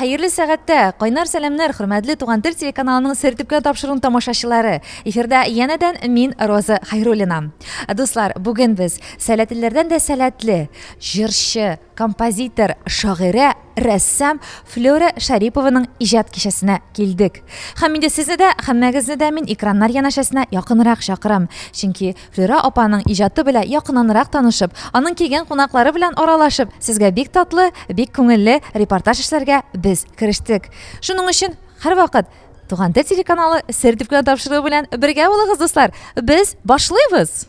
Хәерле сәгатьтә! Кайнар сәламнәр, хөрмәтле Туган тел телеканалының Сер төпкән тапшыруын тамашачылары! Эфирда янәдән мин, Роза Хәйруллина. Дуслар, бүген без сәләтлеләрдән дә сәләтле, җырчы, композитор, шагыйрә, рәссам Флера Шарипованың иҗат кичәсенә килдек. Һәм инде сезне дә, һәммәгезне дә мин экраннар янәшәсенә якынрак чакырам, чөнки Флюра апаның иҗаты белән якынанрак танышып, аның килгән кунаклары белән аралашып, сезгә бик татлы, бик күңелле репортаж эшләргә без керештек. Шуның өчен һәрвакыт Туган тел телеканалы сер дип кенә тапшыруы белән бергә булыгыз, дуслар. Без башлыйбыз!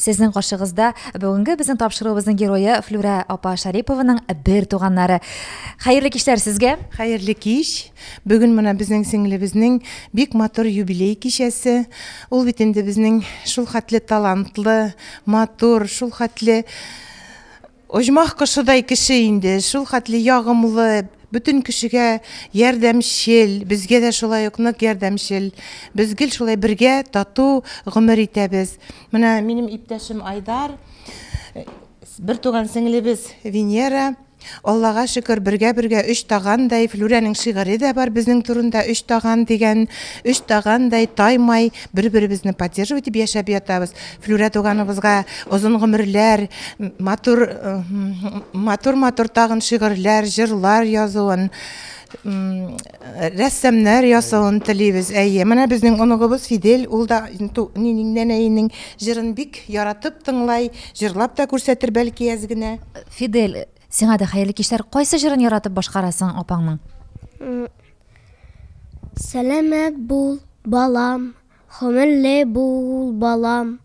Сезнең каршыгызда бүгенге безнең тапшыруыбызның герое Флюрә апа Шарипованың бер туганнары. Хәерле кичләр сезгә. Хәерле кич. Бүген менә безнең сеңлебезнең бик матур юбилей кичәсе. Ул бит инде безнең шул хәтле талантлы, матур, шул хәтле Оҗмах кошыдай кеше инде, шул хәтле ягымлы, бөтен кешегә ярдәмчел, безгә дә шулай ук нык ярдәмчел. Без гел шулай бергә тату гомер итәбез. Менә минем иптәшем Айдар, бертуган сеңлебез Венера. Аллага шөкер, бергә-бергә өч тагандай, Флүрәнең шигыре дә бар безнең турында, Өч таган дигән, өч тагандай таймай. бер беребезне поддерживать итеп яшәп ятабыз флюрә туганыбызга озын гомерләр матур матур матур тагын шигырьләр җырлар язуын рәссамнар ясавын телибез әйе менә безнең оныгыбыз фидель ул да нәнәйнең җырын бик яратып тыңлай җырлап та күрсәтер бәлки әз генә фидель сиңа да хәерле кичләр кайсы җырын яратып башкарасың апаңның Сәламәт бул, балам, хомерле бул, балам,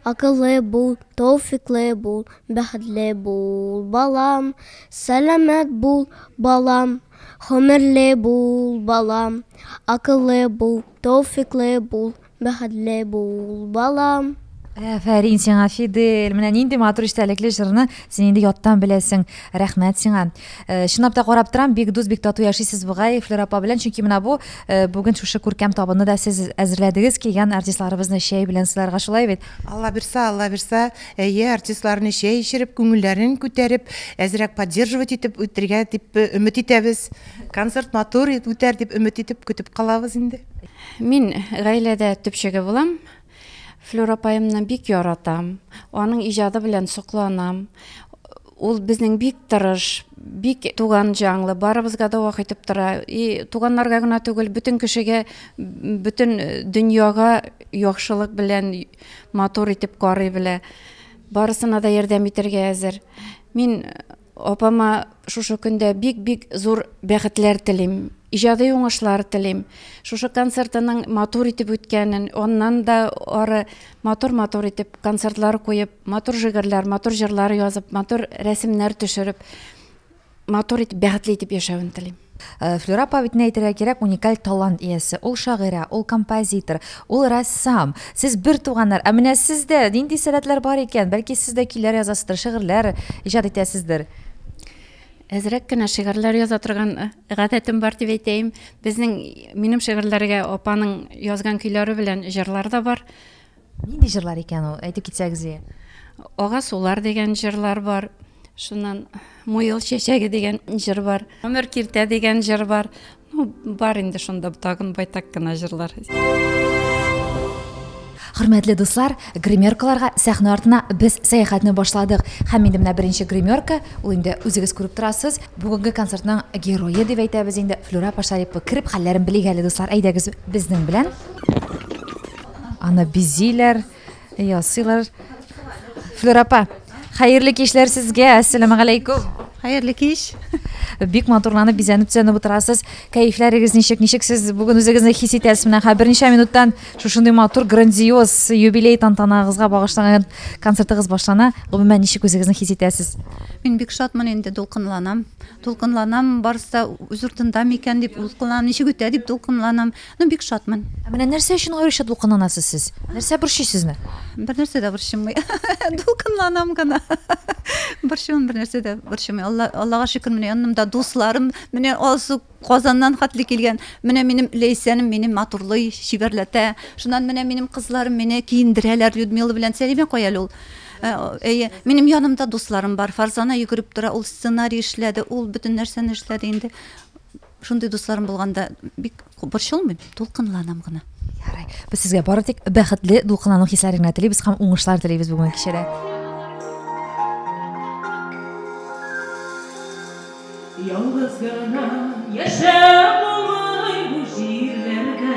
акыллы бул, тауфиклы бул, бәхетле бул, балам. Сәламәт бул, балам, хомерле бул, балам, акыллы бул, тауфиклы бул, Бәхетле бул, балам! Әфәрин сиңа, Фидель! Менә нинди матур истәлекле җырны син инде яттан беләсең. Рәхмәт сиңа. Э, чынлап та карап торам, бик дус, бик тату яшисез бугай Флера апа белән, чөнки менә бу э, бүген шушы күркәм табынны да сез әзерләдегез, килгән артистларыбызны чәй белән сыйларга шулай бит? Алла бирса, Алла бирса, әйе, артистларны чәй эчереп, күңелләрен күтәреп, әзрәк поддерживать итеп үтергә дип э, өмет итәбез. Концерт матур үтәр дип өмет итеп көтеп калабыз инде. Мин гаиләдә төпчеге булам. Флюр апаемны бик яратам. Аның иҗады белән сокланам. Ул безнең бик тырыш, бик туган җанлы, барыбызга да вак итеп тора. И туганнарга гына түгел, бөтен кешегә, бөтен дөньяга яхшылык белән матур итеп карый белә. Барысына да ярдәм итәргә әзер. Мин Апама шушы көндә бик-бик зур бәхетләр телим, иҗади уңышлар телим. Шушы концертының матур итеп үткәнен, аннан да ары матур-матур итеп концертлар куеп, матур жигерләр, матур җырлар язып, матур рәсемнәр төшереп, матур итеп, бәхетле итеп яшәвен телим. Флюра Павитне әйтергә кирәк, уникаль талант иясе. Ул шагыйрә, ул композитор, ул рәссам. Сез бер туганнар. Ә менә сездә нинди сәләтләр бар икән? Бәлки сез дә көйләр язасыздыр, шигырьләр иҗат итәсездер? Әзрәк кенә шигырьләр яза торган гадәтем бар дип әйтәем. Безнең, минем шигырьләргә апаның язган көйләре белән җырлар да бар. Нинди җырлар икән ул, әйтеп китсәгез иде. Ага сулар дигән җырлар бар. Шуннан Муел чәчәге дигән җыр бар. Гомер киртә дигән җыр бар. Ну, бар инде шунда тагын байтак кына җырлар. Хөрмәтле дуслар, гримеркаларга сәхнә артына без сәяхәтне башладык. Һәм инде менә беренче гримерка, ул инде үзегез күреп торасыз, бүгенге концертның герое дип әйтәбез инде, Флюра Пашарипова. Кереп хәлләрен белик әле, дуслар, әйдәгез безнең белән. Аны бизиләр, ясыйлар. Флюр апа, хәерле кичләр сезгә. Әссәламу алейкум. Хәерле кич. Бик матурланып бизәнеп төзәнеп утырасыз. Кәефләрегез ничек? Ничек сез бүген үзегезне хис итәсез? Менә хәзер берничә минуттан шушындый матур грандиоз юбилей тантанагызга багышланган концертыгыз башлана. Гомумән ничек үзегезне хис итәсез? Мин бик шатмын инде, дулкынланам. Дулкынланам, барысы да үз уртында микән дип дулкынланам, ничек үтә дип дулкынланам. Ну, бик шатмын. Ә менә нәрсә өчен аеруча дулкынланасыз сез? Нәрсә борчый сезне? Бер нәрсә дә борчымый. Дулкынланам гына. Борчымын бер нәрсә дә борчымый. Алла, Аллага шөкер, менә янымда дусларым, менә Алсу Казаннан хәтле килгән. Менә минем Ләйсәнем мине матурлый, чибәрләтә. Шуннан менә минем кызларым мине киендерәләр Людмила белән Сәлимә кая әле ул? Э, әйе, минем янымда дусларым бар. Фарзана йөгереп тора, ул сценарий эшләде, ул бөтен нәрсәне эшләде инде. Шундый дусларым булганда бик борчылмыйм, дулкынланам гына. Ярый. Без сезгә бары тик бәхетле дулкынлану хисләре генә телибез һәм уңышлар телибез бүгенге кичәдә. Ялгыз гына яшәп булмый бу җирләрдә.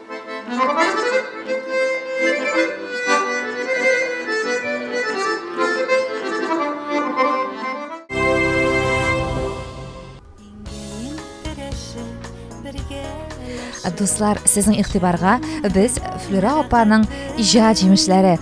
Дуслар, сезнең игътибарга без Флюра апаның иҗат җимешләре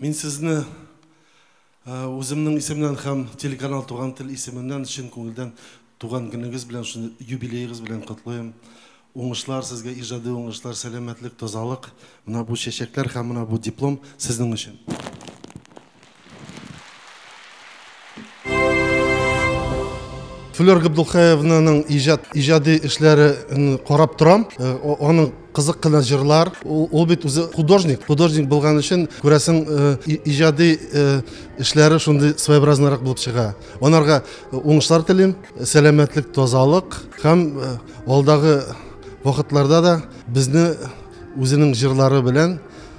Мин сезне үземнең исемнән һәм телеканал Туган тел исеменнән чын күңелдән туган көнегез белән, шуны юбилеегыз белән котлыйм. Уңышлар сезгә, иҗади уңышлар, сәламәтлек, тазалык. Менә бу чәчәкләр һәм менә бу диплом сезнең өчен. Флер Габдулхаевнаның иҗат иҗади эшләре карап торам. Э, аның кызык кына җырлар. Ул бит үзе художник. Художник булган өчен күрәсең э, иҗади э, эшләре шундый своеобразныйрак булып чыга. Анарга уңышлар телим, сәламәтлек, тазалык һәм алдагы вакытларда да безне үзенең җырлары белән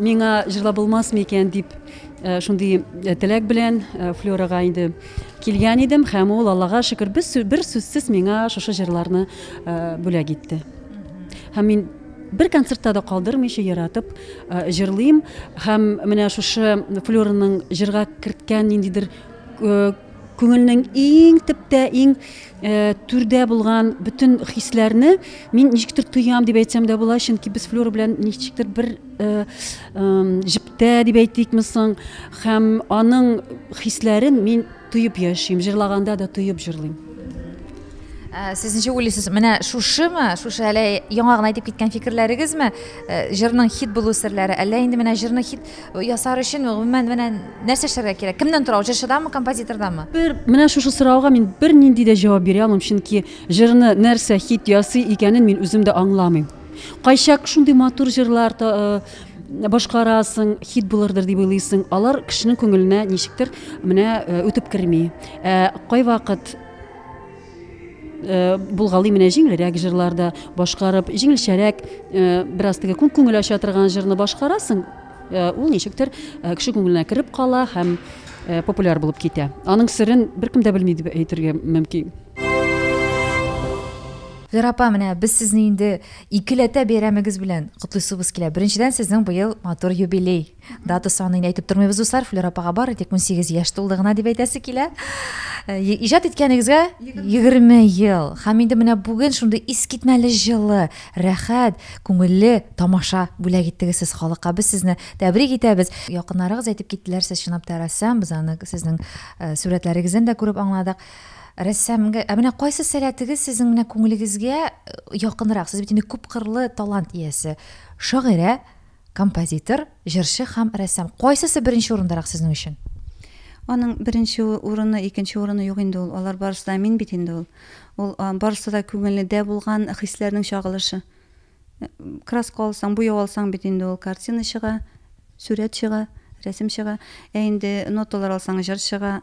Миңа җырлап булмас микән дип шундый теләк белән Флёрага инде килгән идем һәм ул Аллага шөкер бер сүзсез миңа шушы җырларны бүләк итте. Һәм мин бер концертта да калдырмыйча яратып җырлыйм һәм менә шушы Флёраның җырга керткән ниндидер күңелнең иң төптә иң Түрдә булган бөтен хисләрне мин ничектер тоям дип әйтсәм дә була, чөнки без Флюра белән ничектер бер җептә дип әйтикме соң, һәм аның хисләрен мин тоеп яшим, җырлаганда да тоеп җырлыйм. Сез ничек уйлыйсыз, менә шушымы, шушы әле яңа гына әйтеп киткән фикерләрегезме җырның хит булу серләре, әллә инде менә җырны хит Ясар өчен гомумән менә нәрсә эшләргә кирәк? Кемнән тора ул? Җырчыдамы, композитордамы? Бер менә шушы сорауга мин бернинди дә җавап бирә алмыйм, чөнки җырны нәрсә хит ясый икәнен мин үзем дә аңламыйм. Кайчак шундый матур җырлар башкарасың, хит булырдыр дип уйлыйсың, алар кешенең күңеленә ничектер менә үтеп керми. Ә кайвакыт Э, булгалый менә җиңелрәк җырларда башкарып җиңелчәрәк э, бераз теге күн күңел ача торган җырны башкарасың э, ул ничектер кеше күңеленә кереп кала һәм популяр булып китә аның серен беркем дә белми дип әйтергә мөмкин Вера апа, менә без сезне инде икеләтә бәйрәмегез белән котлыйсыбыз килә. Беренчедән сезнең быел матур юбилей. Дата санын әйтеп тормыйбыз, дуслар. Флер апага бары тик 18 яшь тулды гына дип әйтәсе килә. Э, иҗат иткәнегезгә 20 ел. Һәм инде менә бүген шундый искитмәле җылы, рәхәт, күңелле тамаша бүләк иттегез сез халыкка. Без сезне тәбрик итәбез. Якыннарыгыз әйтеп киттеләр, сез чынлап та рәссам. Без аны сезнең э, сурәтләрегездән дә күреп аңладык. Рәссамга, ә менә кайсы сәләтегез сезнең менә күңелегезгә э, якынрак? Сез бит инде күп кырлы талант иясе. Шагыйрә, Композитор, җырчы һәм рәссам. Кайсысы беренче урындарак сезнең өчен? Аның беренче урыны, икенче урыны юк инде ул. Алар барысы да мин бит инде ул. Ул барысы да күңелдә булган хисләрнең чагылышы. Краска алсаң, буяу алсаң бит инде ул картина чыга, сүрәт чыга, рәсем чыга. Ә инде ноталар алсаң, җыр чыга,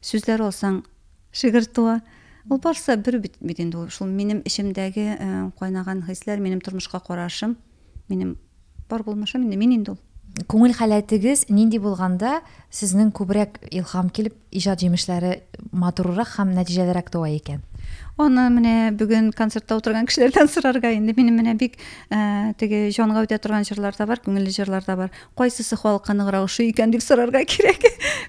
сүзләр алсаң, шигырь туа. Ул барысы бер бит инде ул. Шул минем эчемдәге кайнаган хисләр, минем тормышка карашым. минем бар булмышым инде мин инде ул күңел халәтегез нинди булганда сезнең күбрәк илһам килеп иҗат җимешләре матуррак һәм нәтиҗәлерәк туа икән аны менә бүген концертта утырган кешеләрдән сорарга инде минем менә бик ә, теге җанга үтә торган җырлар да бар күңелле җырлар да бар кайсысы халыкка ныграк ошый икән дип сорарга кирәк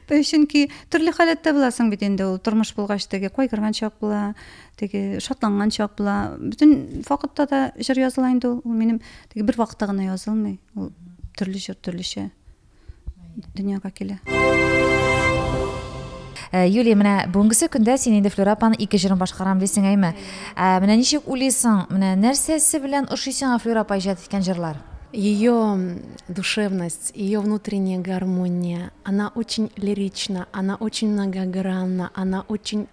чөнки төрле халәттә буласың бит инде ул тормыш булгач теге кайгырган чак була теге шатланган чак була бөтен вакытта да җыр языла инде ул ул минем теге бер вакытта гына язылмый ул төрле җыр төрлечә дөньяга килә э, Юлия, менә бүгенгесе көндә син инде Флюра апаның ике җырын башкарам дисең әйме? Ә, менә ничек уйлыйсың? Менә нәрсәсе белән ошый сиңа Флюра апа иҗат иткән җырлар? ее душевность, ее внутренняя гармония, она очень лирична, она очень многогранна, она очень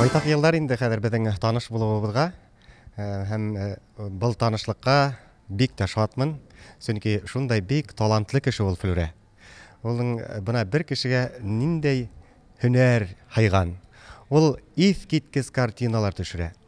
Байтак еллар инде хәзер безнең таныш булуыбызга э, һәм э, был танышлыкка бик тә шатмын, чөнки шундай бик талантлы кеше ул Флүрә. Улың э, бына бер кешегә ниндәй һөнәр хайган. Ул искиткеч картиналар төшерә.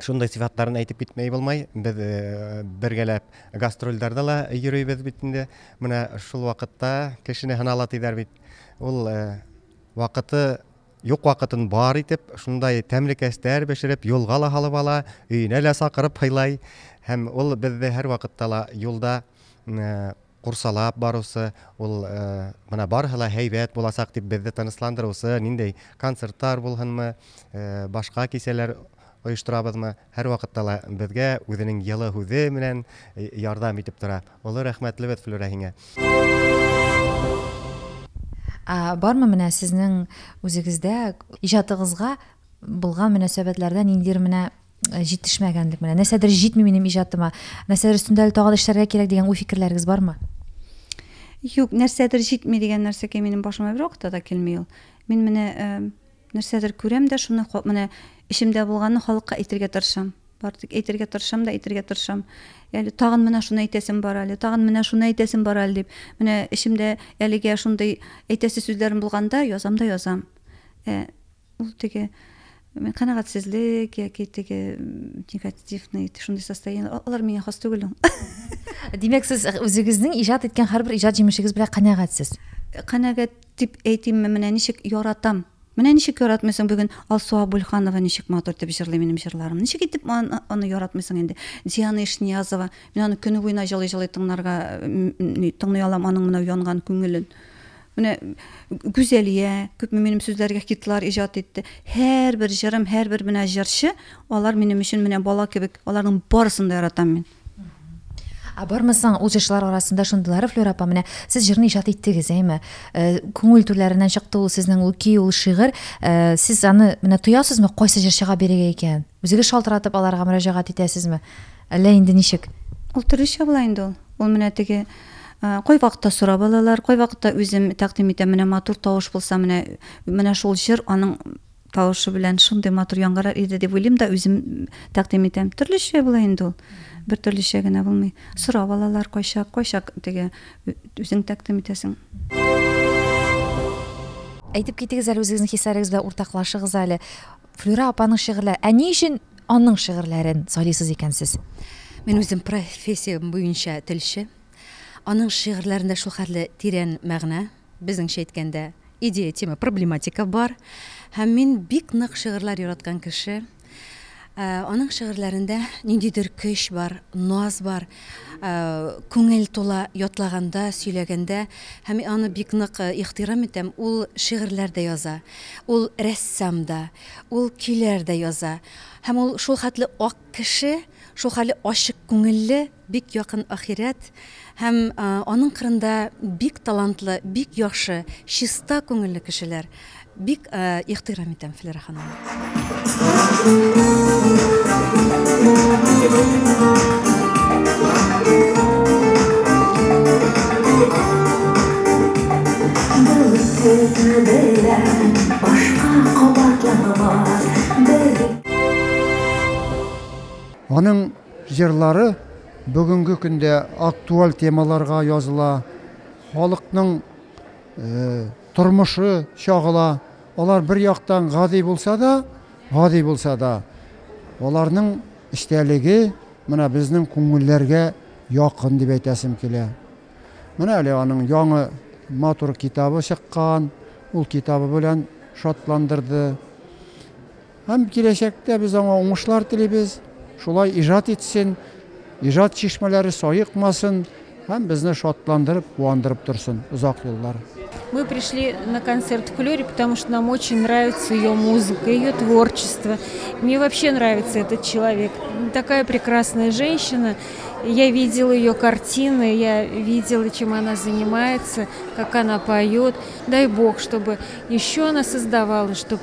Шундай сыйфатларын әйтеп китмәй булмай. Без э, бергәләп гастрольләрдә ла йөрибез бит инде. Менә шул вакытта кешене һынала диләр бит. Ул э, вакыты юк вакытын бар итеп, шундай тәмле кәстәр бешереп, юлга ла алып ала, өенә лә сакырып һыйлай. Һәм ул безне һәр вакытта ла юлда э, курсалап барусы, ул менә барысы ла һәйбәт булачак дип безне тынычландырусы, ниндәй концертлар булһынмы, башка кичәләр оештырабызмы, һәрвакытта ла безгә үзенең йылы һүзе белән ярдәм итеп тора. Олы рәхмәтлебез Флүрә һиңә! Ә бармы менә сезнең үзегездә иҗатыгызга булган мөнәсәбәтләрдә ниндидер менә Э, җитешмәгәнлек менә нәрсәдер җитми минем иҗатыма нәрсәдер өстендә әле тагы да эшләргә кирәк дигән уй фикерләрегез бармы юк нәрсәдер җитми дигән нәрсәгә минем башыма бер вакытта да килми ул мин менә ә, э, нәрсәдер күрәм дә шуны менә эчемдә булганны халыкка әйтергә тырышам бар тик әйтергә тырышам да әйтергә тырышам әле тагын менә шуны әйтәсем бар әле тагын менә шуны әйтәсем бар әле дип менә эчемдә әлегә шундый әйтәсе сүзләрем булганда язам да язам ә, э, Ул теге канәгатьсезлек яки теге негативный шундый состояние алар миңа хас түгел димәк сез үзегезнең иҗат иткән һәрбер иҗат җимешегез белән канәгатьсез канәгать дип әйтимме менә ничек яратам менә ничек яратмыйсың бүген алсу абульханова ничек матур итеп җырлый минем җырларым ничек итеп аны, аны яратмыйсың инде диана ишниязова мин аны көне буена җылый җылый тыңларга тыңлый алам аның менә янган күңелен Менә Гүзәлия, күпме минем сүзләргә хитлар иҗат итте. Һәрбер җырым, һәрбер менә җырчы, алар минем өчен менә бала кебек, аларның барысын да яратам мин. Ә бармы соң ул җырчылар арасында шундыйлары, Флюра апа, менә сез җырны иҗат иттегез, әйме? Э, күңел түрләреннән чыкты ул сезнең ул көй, ул шигырь. Э, сез аны менә тоясызмы, кайсы җырчыга бирергә икән? Үзегез шалтыратып аларга мөрәҗәгать итәсезме? Әллә инде ничек? Ул төрлечә була инде ул. Ул менә теге кайвакытта сорап алалар, кайвакытта үзем тәкъдим итәм, менә матур тавыш булса, менә менә шул җыр аның тавышы белән шундый матур яңгырар иде дип уйлыйм да үзем тәкъдим итәм. Төрлечә була инде ул. Бер төрлечә генә булмый. Сорап алалар кайчак, кайчак теге үзең тәкъдим итәсең. Әйтеп китегез әле үзегезнең хисләрегез белән уртаклашыгыз әле. Флюра апаның шигырьләре. Ә ни өчен аның шигырьләрен сайлыйсыз икән сез? Мин үзем профессиям буенча телче. Аның шигырьләрендә шул хәтле тирән мәгънә, безнеңчә әйткәндә, идея, тема, проблематика бар. Һәм мин бик нык шигырьләр яраткан кеше. Ә, Аның шигырьләрендә ниндидер көч бар, наз бар. Күңел тула ятлаганда, сөйләгәндә һәм мин аны бик нык ихтирам итәм, ул шигырьләр дә яза, ул рәссам да, ул көйләр дә яза. Һәм ул шул хәтле ак кеше, шул хәле ачык күңелле, бик якын ахирәт һәм аның кырында бик талантлы, бик яхшы, чиста күңелле кешеләр. Бик ихтирам итәм, Флера ханым. Аның җырлары бүгенге көндә актуаль темаларга языла, халыкның Тормышы чагыла. Алар бер яктан гади булса да, гади булса да, аларның эчтәлеге менә безнең күңелләргә якын дип әйтәсем килә. Менә әле аның яңы матур китабы чыккан, ул китабы белән шатландырды. Һәм киләчәктә без аңа уңышлар телибез, шулай иҗат итсен, иҗат чишмәләре саекмасын һәм безне шатландырып, куандырып торсын озак еллар. Мы пришли на концерт Флёри, потому что нам очень нравится ее музыка, ее творчество. Мне вообще нравится этот человек. Такая прекрасная женщина. Я видела ее картины, я видела, чем она занимается, как она поет. Дай Бог, чтобы еще она создавала, чтобы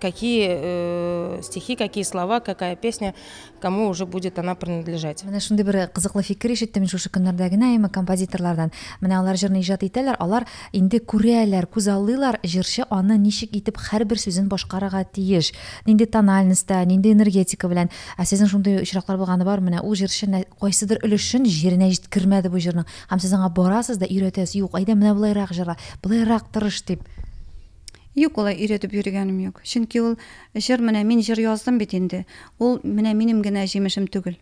какие э, стихи, какие слова, какая песня, кому уже будет она принадлежать. Менә шундый бер кызыклы фикер ишеттем мин шушы көннәрдә генә әмма композиторлардан. Менә алар җырны иҗат итәләр, алар инде күрәләр, күз аллыйлар, җырчы аны ничек итеп һәрбер сүзен башкарырга тиеш. Нинди тональностьта, нинди энергетика белән. Ә сезнең шундый очраклар булганы бар, менә ул җырчы кайсыдыр өлешен җиренә җиткермәде бу җырның. Һәм сез аңа барасыз да өйрәтәсез, юк, әйдә менә болайрак җырла, болайрак тырыш дип. Юк, алай өйрәтеп йөрегәнем юк. Чөнки ул җыр менә мин җыр яздым бит инде. Ул менә минем генә җимешем түгел.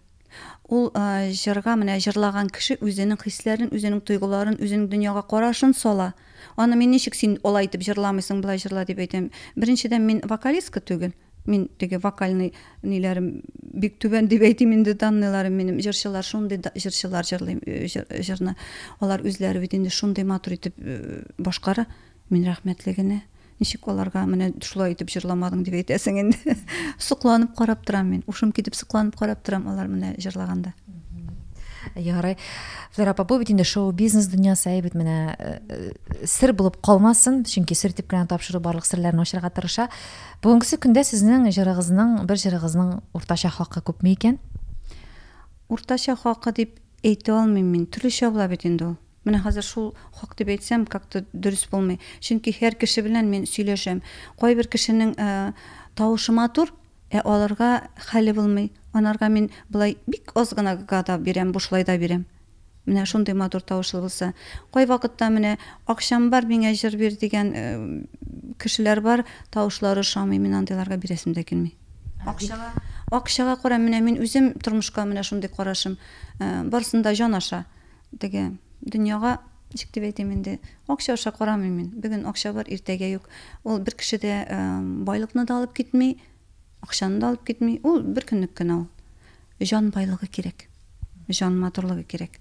Ул җырга менә җырлаган кеше үзенең хисләрен, үзенең тойгыларын, үзенең дөньяга карашын сала. Аны мин ничек син алай итеп җырламыйсың, болай җырла дип әйтәм. Беренчедән мин вокалистка түгел. Мин теге вокальный ниләрем бик түбән дип әйтим инде данныйларым минем. Җырчылар шундый җырчылар җырлый җырны. Алар үзләре бит инде шундый матур итеп башкара. Мин рәхмәтле генә. Ничек аларга менә шулай итеп җырламадың дип әйтәсең инде. Сокланып карап торам мин. Ушым китеп сокланып карап торам алар менә җырлаганда. Ярый. Флера апа, бу бит инде шоу-бизнес дөньясы, әй бит менә э, э, сер булып калмасын, чөнки сер дип кенә тапшыру барлык серләрне ачарга тырыша. Бүгенге көндә сезнең җырыгызның, бер җырыгызның уртача хакы күпме икән? Уртача хакы дип әйтә алмыйм мин. Төрлечә була бит инде ул. Менә хәзер шул хак дип әйтсәм, как-то дөрес булмый. Чөнки һәр кеше белән мин сөйләшәм. Кайбер кешенең тавышы матур, ә алырга хәле булмый. Анарга мин болай бик аз гына гада бирәм, бушлай да бирәм. Менә шундый матур тавышлы булса. Кайвакытта менә акчам бар, миңа җыр бир дигән кешеләр бар, тавышлары ошамый, мин андыйларга бирәсем дә килми. Акчага, акчага кара, менә мин үзем тормышка менә шундый карашым. Барсын да җан аша. Теге, дөньяга, ничек дип әйтим инде, акча аша карамыйм мин. Бүген акча бар, иртәгә юк. Ул бер кеше дә байлыкны да алып китми, акчаны да алып китми. Ул бер көнлек кенә ул. Җан байлыгы кирәк. Җан матурлыгы кирәк.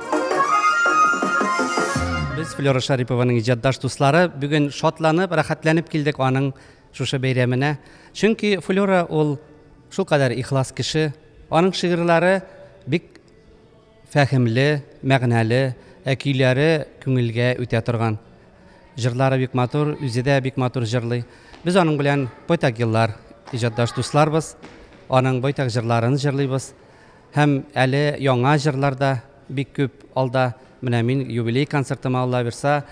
Без Флера Шарипованың иҗатдаш дуслары бүген шатланып, рәхәтләнеп килдек аның шушы бәйрәменә. Чөнки Флера ул шул кадәр ихлас кеше. Аның шигырьләре бик фәһемле, мәгънәле, ә көйләре күңелгә үтә торган. Җырлары бик матур, үзе дә бик матур җырлый. Без аның белән байтак еллар иҗатдаш дусларбыз. Аның байтак җырларын җырлыйбыз. Һәм әле яңа җырлар да бик күп алда. Менә мин юбилей концертыма Аллабирса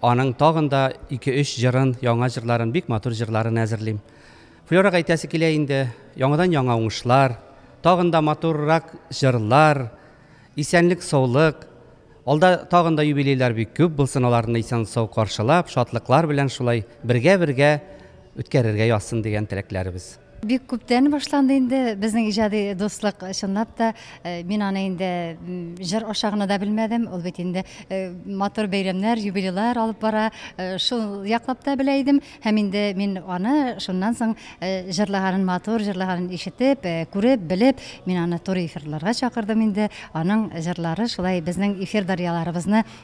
аның тагын да ике-өч җырын, яңа җырларын, бик матур җырларын әзерлим. Флёрага әйтәсе килә инде, яңадан-яңа уңышлар, тагын да матуррак җырлар, исәнлек-саулык. Алда тагын да юбилейлар бик күп булсын, аларны исән-сау каршылап, шатлыклар белән шулай бергә-бергә үткәрергә язсын дигән теләкләребез. Бик күптән башланды инде безнең иҗади дуслык. Чынлап та, э, мин аны инде җыр аша гына да белмәдем. Ул бит инде э, матур бәйрәмнәр, юбилейлар алып бара. Э, шул яклап та белә идем. Һәм инде мин аны шуннан соң э, җырлаганын матур, җырлаганын ишетеп, э, күреп, белеп, мин аны туры эфирларга чакырдым инде. Аның җырлары шулай безнең эфир дарьяларыбызны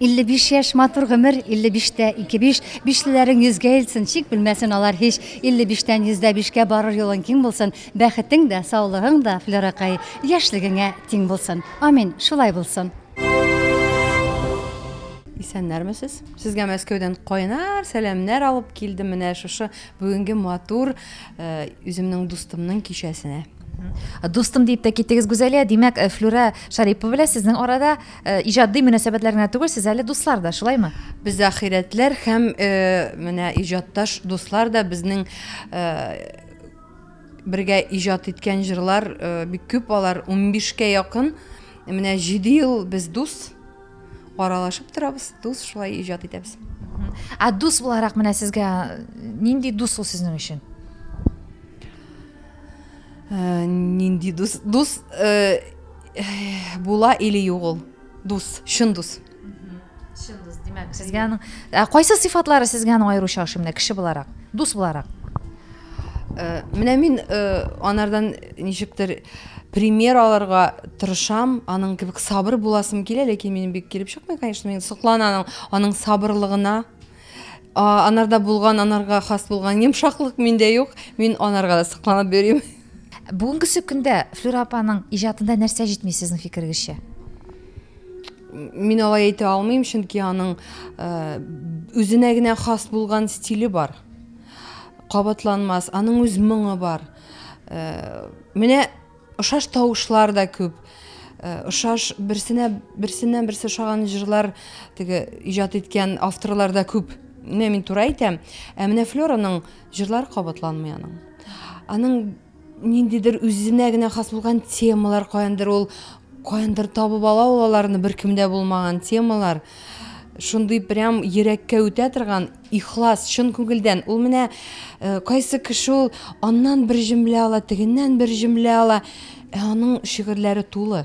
55 яшь матур гомер 55 тә 25 бишлеләрең йөзгә илтсен чик белмәсен алар һич 55 тән 105 кә барыр юлың киң булсын бәхетең дә саулыгың да флеракай яшьлегеңә тиң булсын амин шулай булсын Исәннәрмесез? Сезгә Мәскәүдән кайнар сәламнәр алып килдем менә шушы бүгенге матур э, үземнең дустымның кичәсенә. Дустым дип тә киттегез Гүзәлия, димәк, э, Флюра Шарипова белән сезнең арада Э, иҗади мөнәсәбәтләр генә түгел сез әле дуслар да шулаймы без ахирәтләр һәм э, менә иҗатташ дуслар да безнең э, бергә иҗат иткән җырлар бик күп алар 15 кә якын менә 7 ел без дус аралашып торабыз дус шулай иҗат итәбез ә дус буларак менә сезгә нинди дус ул сезнең өчен нинди дус дус Була или юк ул? Дус, чын дус. Чын дус, димәк, сезгә аның ә кайсы сыйфатлары сезгә аның аеруча ошый менә кеше буларак, дус буларак? Э, менә мин э, анардан ничектер пример алырга тырышам, аның кебек сабыр буласым килә, ләкин минем бик килеп чыкмый, конечно, мин сокланам аның сабырлыгына. Анарда булган, анарга хас булган йомшаклык миндә юк. Мин анарга да сокланып йөрим. Бүгенгесе көндә Флюра апаның иҗатында нәрсә җитми сезнең фикерегезчә? Мин алай әйтә алмыйм, чөнки аның э, үзенә генә хас булган стиле бар. Кабатланмас, аның үз моңы бар. Э, менә ошаш тавышлар да күп. Э, ошаш берсенә берсеннән берсе ошаган җырлар теге иҗат иткән авторлар да күп. Менә мин туры әйтәм. Ә менә Флораның Җырлар кабатланмый аның. Аның ниндидер үзенә генә хас булган темалар каяндыр ул каяндыр табып ала ул аларны беркемдә булмаган темалар шундый прям йөрәккә үтә торган ихлас чын күңелдән ул менә э, кайсы кеше ул аннан бер җөмлә ала тегеннән бер җөмлә ала ә аның шигырьләре тулы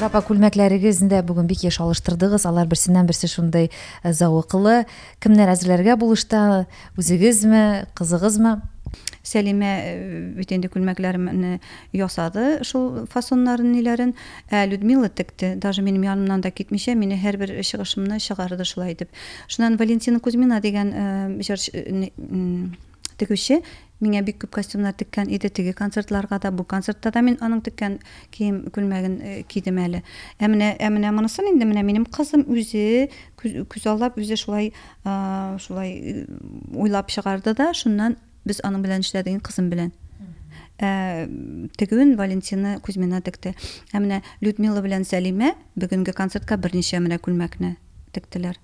Рапа күлмәкләрегез дә бүген бик еш алыштырдыгыз. Алар берсеннән берсе шундый э, зәвыклы. Кемнәр әзерләргә булышта? Үзегезме, кызыгызмы? Сәлимә э, бит инде күлмәкләремне ясады, шул фасоннарын ниләрен. Ә Людмила текте, даже минем янымнан да китмичә, мине һәрбер чыгышымны чыгарды шулай итеп. Шуннан Валентина Кузьмина дигән э, җырчы Тегүче миңа бик күп костюмнар теккән иде, теге концертларга да, бу концертта да мин аның теккән кием күлмәген э, кидем әле. Ә менә ә менә монысын инде менә минем кызым үзе күз, күз аллап үзе шулай а, шулай э, уйлап чыгарды да, шуннан без аның белән эшләдек, кызым белән. Ә, тегүен Валентина Кузьмина текте. Ә менә Людмила белән Сәлимә бүгенге концертка берничә менә күлмәкне тектеләр.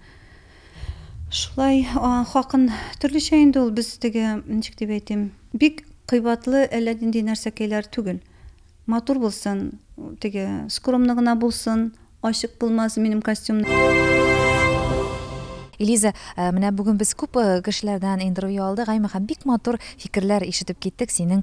Шулай хакын төрлечә инде ул без теге ничек дип әйтим бик кыйбатлы әллә нинди нәрсәкәйләр түгел. Матур булсын, теге скромно гына булсын, ачык булмас минем костюмнар. Элиза, менә бүген без күп кешеләрдән интервью алдык, әйме һәм бик матур фикерләр ишетеп киттек синең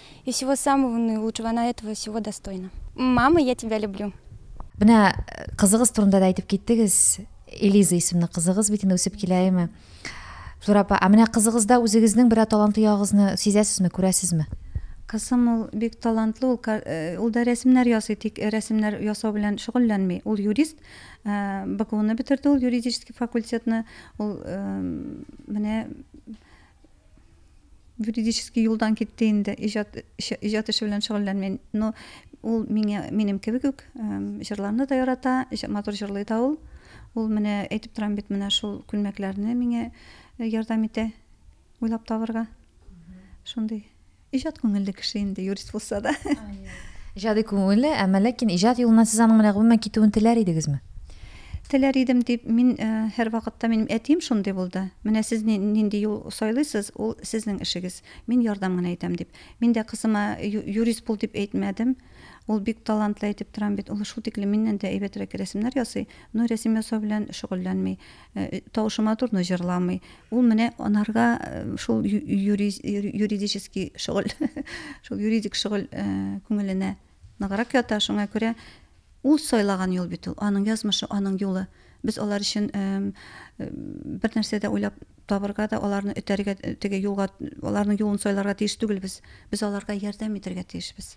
И всего самого наилучшего она этого всего достойна. Мама, я тебя люблю. Менә кызыгыз турында да әйтеп киттегез. Элиза исемле кызыгыз бит инде үсеп килә, әйме? Флора апа, а менә кызыгызда үзегезнең берәр талантлы ягыгызны сизәсезме, күрәсезме? Кызым ул бик талантлы, ул, э, ул да рәсемнәр ясый, тик э, рәсемнәр ясау белән шөгыльләнми. Ул юрист, э, БГУны бетерде ул юридический факультетны. Ул менә юридический юлдан китте инде, иҗат эше, иҗат эше белән шөгыльләнми. Но ул миңа минем кебек үк эм, җырларны да ярата, җ- матур җырлый да ул. Ул менә әйтеп торам бит, менә шул күлмәкләрне миңа э, ярдәм итә уйлап табырга. Шундый Иҗат күңелле кеше инде, юрист булса да. Иҗади күңелле, әмма ләкин иҗат юлына сез аның менә гомумән китүен теләр идегезме? Теләр идем дип, мин һәр вакытта минем әтием шундый булды. Менә сез нинди юл сайлыйсыз, ул сезнең эшегез. Мин ярдәм генә итәм дип. Мин дә кызыма юрист бул дип әйтмәдем. Ул бик талантлы әйтеп торам бит. Ул шул тиклем миннән дә әйбәтрәк рәсемнәр ясый, но рәсем ясау белән шөгыльләнми. Э, э, тавышы матурны җырламый ул менә анарга э, шул юридический шөгыль шул юридик шөгыль күңеленә ныграк ята шуңа күрә ул сайлаган юл бит ул аның язмышы аның юлы без алар өчен бер нәрсә дә уйлап табырга да аларны өтәргә теге юлга аларның юлын сайларга тиеш түгелбез без аларга ярдәм итәргә тиешбез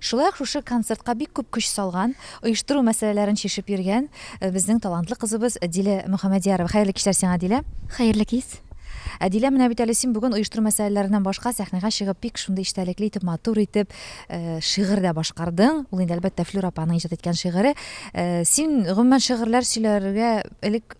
Шулай ук шушы концертка бик күп көч салган, оештыру мәсьәләләрен чишеп йөргән безнең талантлы кызыбыз Дилә Мөхәммәдиярова. Хәерле кичләр сиңа, Дилә! Хәерле кич! Дилә, менә бит әле син бүген оештыру мәсьәләләреннән башка сәхнәгә чыгып бик шундый эчтәлекле итеп, матур итеп шигырь дә башкардың. Ул инде, әлбәттә, Флюра апаның иҗат иткән шигыре. Син, гомумән, шигырьләр сөйләргә элек,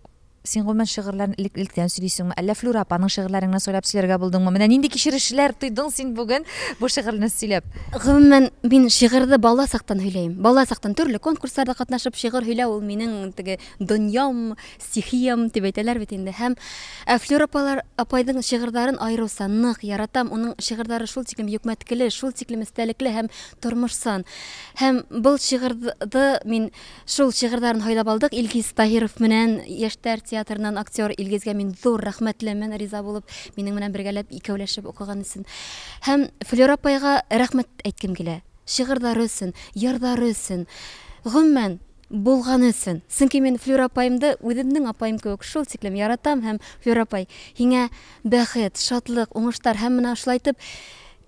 Син, гомумән, шигырьләрне элек-электән сөйлисеңме, әллә Флюра апаның шигырьләрен генә сайлап сөйләргә булдыңмы? Менә нинди кичерешләр тойдың син бүген бу шигырьне сөйләп? Гомумән, мин шигырьне бала сактан һөйләйм. Бала сактан төрле конкурсларда катнашып шигырь һөйләү ул минең теге дөньям, стихиям дип әйтәләр бит инде. Һәм Флюра апалар, апайның шигырьләрен аеруча нык яратам. Уның шигырьләре шул тиклем юкмәткеле, шул тиклем истәлекле һәм тормышсан. Һәм бу шигырьне мин Шул шигырьләрен һайлап алдык Илгиз Таһиров менән, яшьтәр театрыннан актер Илгизгә мин зур рәхмәтлемен, риза булып, минең менән бергәләп, икәүләшеп укыган өчен. Һәм Флера апайга рәхмәт әйткем килә, шигырьләре өчен, йырлары өчен, гомумән, булганы өчен. Чөнки мин Флера апаемды үземнең апаем кебек шул тиклем яратам һәм, Флера апай, һиңа бәхет, шатлык, уңышлар һәм менә шулай итеп,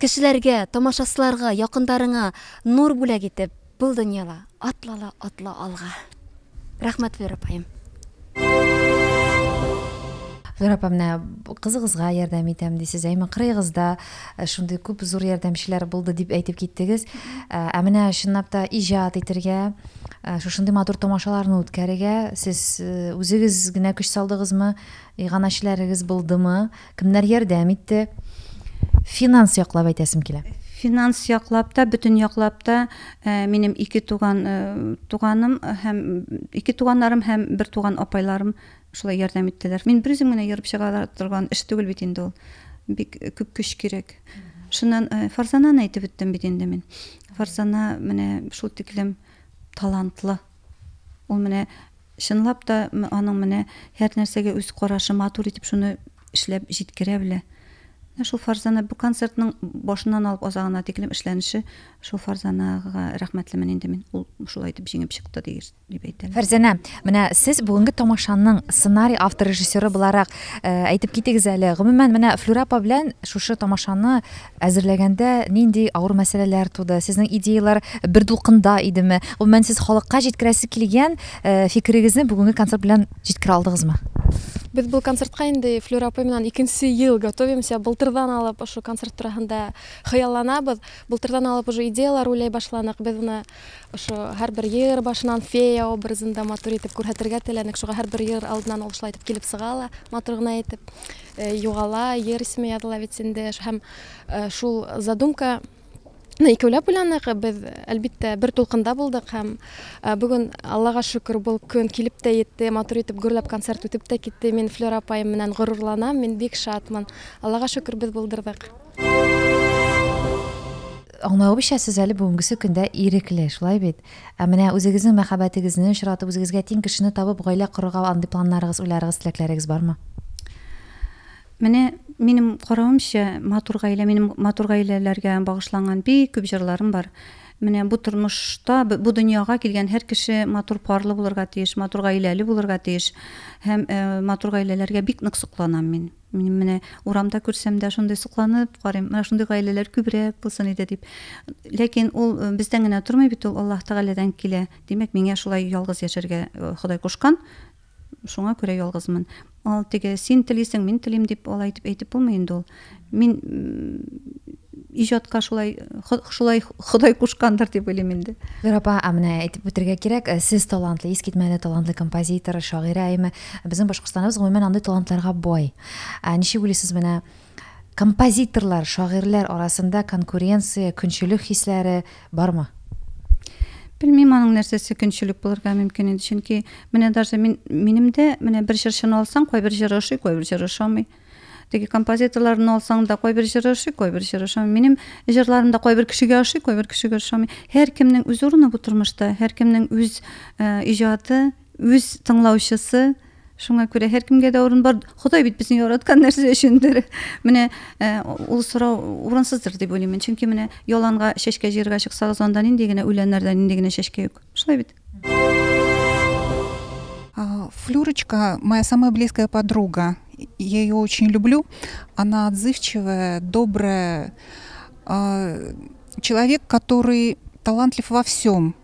кешеләргә, тамашачыларга, якындарыңа нур бүләк итеп, Бул дөньяла, атла ла, атла алга. Рәхмәт, Вера апаем. Вера апа, менә кызыгызга ярдәм итәм дисез, әмма кырыегызда э, шундый күп зур ярдәмчеләр булды дип әйтеп киттегез. Э, ә менә чынлап та иҗат итергә, э, шушындый матур тамашаларны үткәрергә сез үзегез генә көч салдыгызмы, иганәчеләрегез булдымы? Кемнәр ярдәм итте? Финанс яклап әйтәсем килә. Финанс яклап та, бөтен яклап та э, минем ике туган э, туганым һәм ике туганнарым һәм бер туган апайларым шулай ярдәм иттеләр. Мин бер үзем генә йөреп чыга торган эш түгел бит инде ул. Бик күп көч кирәк. Шуннан э, Фарзананы әйтеп үттем бит инде мин. Фарзана менә шул тиклем талантлы. Ул менә чынлап та аның менә һәрнәрсәгә үз карашы, матур итеп шуны эшләп җиткерә белә. Менә шул Фарзана бу концертның башыннан алып азагына тиклем эшләнеше шул Фарзанага рәхмәтлемен инде мин. Ул шулай итеп җиңеп чыкты дигез дип әйтәләр. Фәрзәнә, менә сез бүгенге тамашаның сценарий автор-режиссеры буларак әйтеп китегез әле, гомумән, менә Флүрә апа белән шушы тамашаны Әзерләгәндә нинди авыр мәсьәләләр туды? Сезнең идеяләр бер дулкында идеме? Гомумән, сез халыкка җиткерәсе килгән фикерегезне бүгенге концерт белән җиткерә алдыгызмы? Без бу концертка инде Флюра апай менән икенче ел готовимся. Былтырдан алып ошо концерт турында хыялланабыз. Былтырдан алып уже идеяләр уйлый башладык. Без моны ошо һәрбер җыр башыннан фея образында матур итеп күрһәтергә теләдек. Шуңа һәрбер җыр алдыннан ул шулай итеп килеп чыга ла, матур гына итеп. Югала йөр смеяла бит инде һәм шул задумка Ну, икәүләп уйланык, без, әлбиттә, бер тулкында булдык һәм э, бүген, Аллага шөкер, был көн килеп тә етте, матур итеп гөрләп концерт үтеп тә китте. Мин Флера апаем менән горурланам, мин бик шатмын. Аллага шөкер, без булдырдык. Аңлавыбызча, сез әле бүгенгесе көндә ирекле, шулай бит? Ә менә үзегезнең мәхәббәтегезне очратып, үзегезгә тиң кешене табып, гаилә корырга андый планнарыгыз, уйларыгыз, теләкләрегез бармы? Менә минем каравымча, матур гаилә, минем матур гаиләләргә багышланган бик күп җырларым бар. Менә бу тормышта, бу дөньяга килгән һәр кеше матур парлы булырга тиеш, матур гаиләле булырга тиеш. Һәм матур гаиләләргә бик нык сокланам мин. Минем менә урамда күрсәм дә шундый сокланып карыйм, менә шундый гаиләләр күбрәк булсын иде дип. Ләкин ул э, бездән генә тормый бит, ул Аллаһ Тәгаләдән килә. Димәк, миңа шулай ялгыз яшәргә э, Ходай кушкан, шуңа күрә ялгызмын. Ал теге син телисең, мин телим дип алай итеп әйтеп булмый инде ул. Мин иҗатка шулай шулай Ходай кушкандыр дип уйлыйм инде. Гүзәр апа, ә менә әйтеп үтергә кирәк, э, сез талантлы, искитмәле талантлы композитор, шагыйрә әйме. Безнең Башкортстаныбыз гомумән андый талантларга бай. Ә ничек уйлыйсыз менә композиторлар, шагыйрьләр арасында конкуренция, көнчелек хисләре бармы? Белмим аның нәрсәсе көнчелек булырга мөмкин инде, чөнки менә даже мин минем дә менә бер җырчыны алсаң, кайбер җыры ошый, кайбер җыры ошамый. Теге композиторларны алсаң да кайбер җыры ошый, кайбер җыры ошамый. Минем җырларым да кайбер кешегә ошый, кайбер кешегә ошамый. Һәркемнең үз урыны бу тормышта, һәркемнең үз э, иҗаты, үз тыңлаучысы шуңа күрә һәркемгә дә урын бар ходай бит безне яраткан нәрсә өчендер менә э, ул сорау урынсыздыр дип уйлыйм чөнки менә яланга чәчкә җыерга чыксагыз анда нинди генә үләннәрдә нинди генә чәчкә юк шулай бит Флюрочка, моя самая близкая подруга. Я ее очень люблю. Она отзывчивая, добрая. А, человек, который талантлив во всем.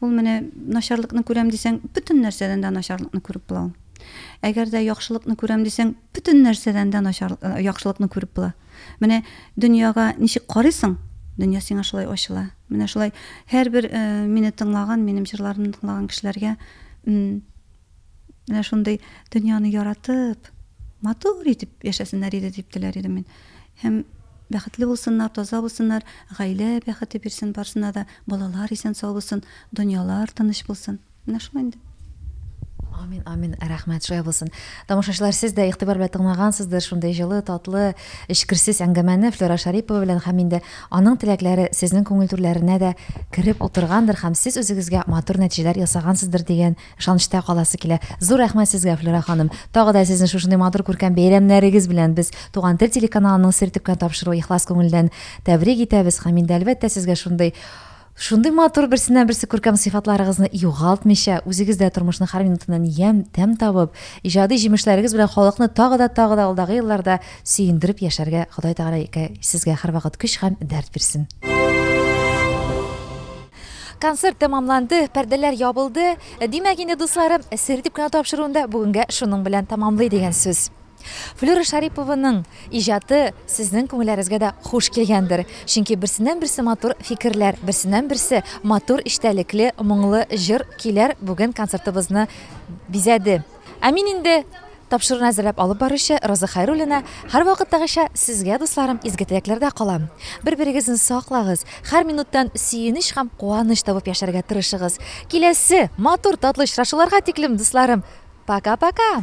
Ул менә начарлыкны күрәм дисәң, бөтен нәрсәдән дә начарлыкны күреп була ул. Әгәр дә яхшылыкны күрәм дисәң, бөтен нәрсәдән дә начар яхшылыкны күреп була. Менә дөньяга ничек карыйсың, дөнья сиңа шулай ачыла. Менә шулай һәрбер мине тыңлаган, минем җырларымны тыңлаган кешеләргә Менә шундый дөньяны яратып, матур итеп яшәсеннәр иде дип теләр идем мин. Һәм бәхетле булсыннар, таза булсыннар, гаилә бәхете бирсен барсына да, балалар исән сау булсын, дөньялар тыныч булсын. Менә шулай инде. Амин, амин, рәхмәт, шулай булсын. Тамашачылар, сез дә игътибар белән тыңлагансыздыр шундый җылы, татлы, эчкерсез әңгәмәне Флера Шарипова белән һәм инде аның теләкләре сезнең күңел түрләренә дә кереп утыргандыр һәм сез үзегезгә матур нәтиҗәләр ясагансыздыр дигән Ышанычта каласы килә. Зур рәхмәт сезгә, Флюра ханым. Тагы да сезне шушындый матур күркәм бәйрәмнәрегез белән без, Туган тел телеканалының Сер төпкән тапшыруы ихлас күңелдән тәбрик итәбез һәм инде, әлбәттә, сезгә шундый Шундый матур берсеннән-берсе күркәм сыйфатларыгызны югалтмыйча, үзегез дә тормышның һәр минутыннан ямь, тәм табып, иҗади җимешләрегез белән халыкны тагы да, тагы да алдагы елларда сөендереп яшәргә Ходай Тәгалә сезгә һәрвакыт көч һәм дәрт бирсен. Концерт тәмамланды, пәрдәләр ябылды. Димәк инде, дусларым, сер дип кенә тапшыруын да бүгенгә шуның белән тәмамлый дигән сүз. Флюра Шарипованың иҗаты сезнең күңелләрегезгә дә хуш килгәндер. Чөнки берсеннән-берсе матур фикерләр, берсеннән-берсе матур эчтәлекле, моңлы җыр-көйләр бүген концертыбызны бизәде. Ә мин инде Тапшыруны әзерләп алып баручы Роза Хәйруллина, Һәрвакыттагыча, сезгә, дусларым, изге теләкләрдә калам. Бер-берегезне саклагыз, һәр минуттан сөенеч һәм куаныч табып яшәргә тырышыгыз. Киләсе матур, татлы очрашуларга тиклем, дусларым, пока-пока!